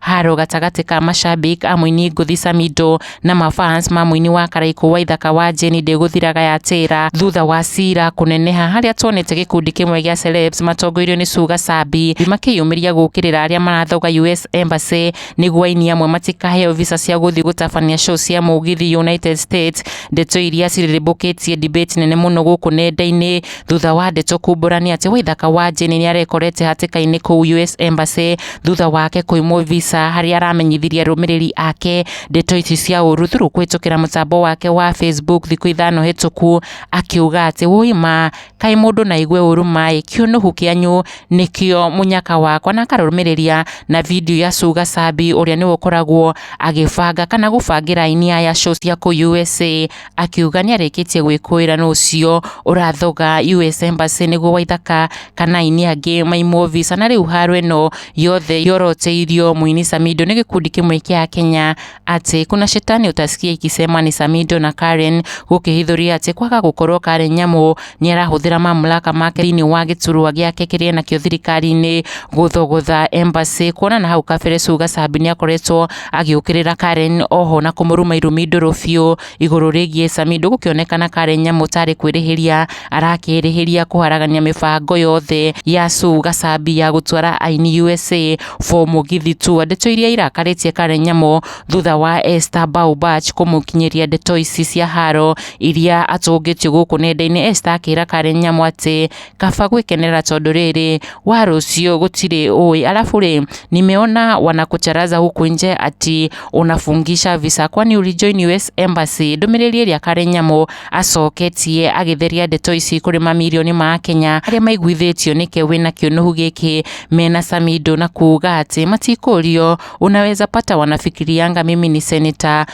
Haro gatagatĩ ka mashabik a mũini ngũthi Samido na mafans ma mũini wa Karaikũ wa ithaka wa Jane ndĩgũthiraga ya Tĩra thutha wa cira kũneneha harĩa tuonete gĩkundi kĩmwe gĩa celebs matongoirio nĩ Suga Sabi makĩyumĩria gũkĩrĩra arĩa marathoga US Embassy nĩguo aini amwe matikaheo visa cia gũthiĩ gũtabania show cia mũgithi United States ndeto iria cirĩrĩmbũkĩtie debate nene mũno gũkũ nenda-inĩ thutha wa ndeto kumbũrania atĩ Waithaka wa Jane nĩarekorete hatĩka-inĩ kũu US Embassy thutha wake kũimwo visa harĩa aramenyithirie arũmĩrĩri ake ndeto ici cia ũru through kũhĩtũkĩra mũtambo wake wa Facebook thikũ ithano hĩtũku akiuga atĩ wũi ma kaĩ mũndũ na aigue ũru maĩ kĩũnũhu kĩanyu nĩkĩo mũnyaka wakwa na akarũmĩrĩria na video ya Suga Sabi ũrĩa nĩwe ũkoragwo agĩbanga kana gũbangĩra aini aya show cia kũu USA akiuga nĩarĩkĩtie gwĩkũĩra nũ ũcio ũrathoga US Embassy nĩguo Waithaka kana aini angĩ maimwo visa na rĩu haro ĩno yothe yoroteirio mũini Samido nĩ gĩkundi kĩmwe kĩa Kenya atĩ kuna shetani utasikia ikisema ni Samido na Karen gũkĩhithũria atĩ kwaga gũkorwo Karen Nyamu nĩarahũthĩra mamlaka make thĩinĩ wa gĩturwa gĩake kĩrĩa enakĩo thirikari-inĩ gũthogotha embassy kuona na hau kabere Sugar Sabi nĩakoretwo agĩũkĩrĩra Karen oho na kũmũruma irumi ndũrũ biũ igũrũ rĩgiĩ Sami ndũgũkĩonekana Karen nyamũ tarĩ kwĩrĩhĩria arakĩrĩhĩria kũharagania mĩbango yothe ya Sugar Sabi ya gũtwara aini USA for mũgithi tour ndeto iria irakarĩtie Karen nyamũ thutha wa Esther Baubach kũmũkinyĩria ndeto ici cia haro iria atũngĩtio gũkũ nenda-inĩ, Esther akĩra Karen Nyamu atĩ kaba gwĩkenera tondũ rĩrĩ wa rũciũ gũtirĩ ũĩ. Alafu rĩ nimeona wanakucharaza huku nje ati unafungisha visa kwani ulijoin US embassy. Ndũmĩrĩri ĩrĩa Karen Nyamu acoketie agĩtheria ndeto ici kũrĩ mamirioni ma Akenya arĩa maiguithĩtio nĩke wĩna kĩũnũhu gĩkĩ mena Samido na kuuga atĩ matikũrio unaweza pata wanafikirianga mimi ni senator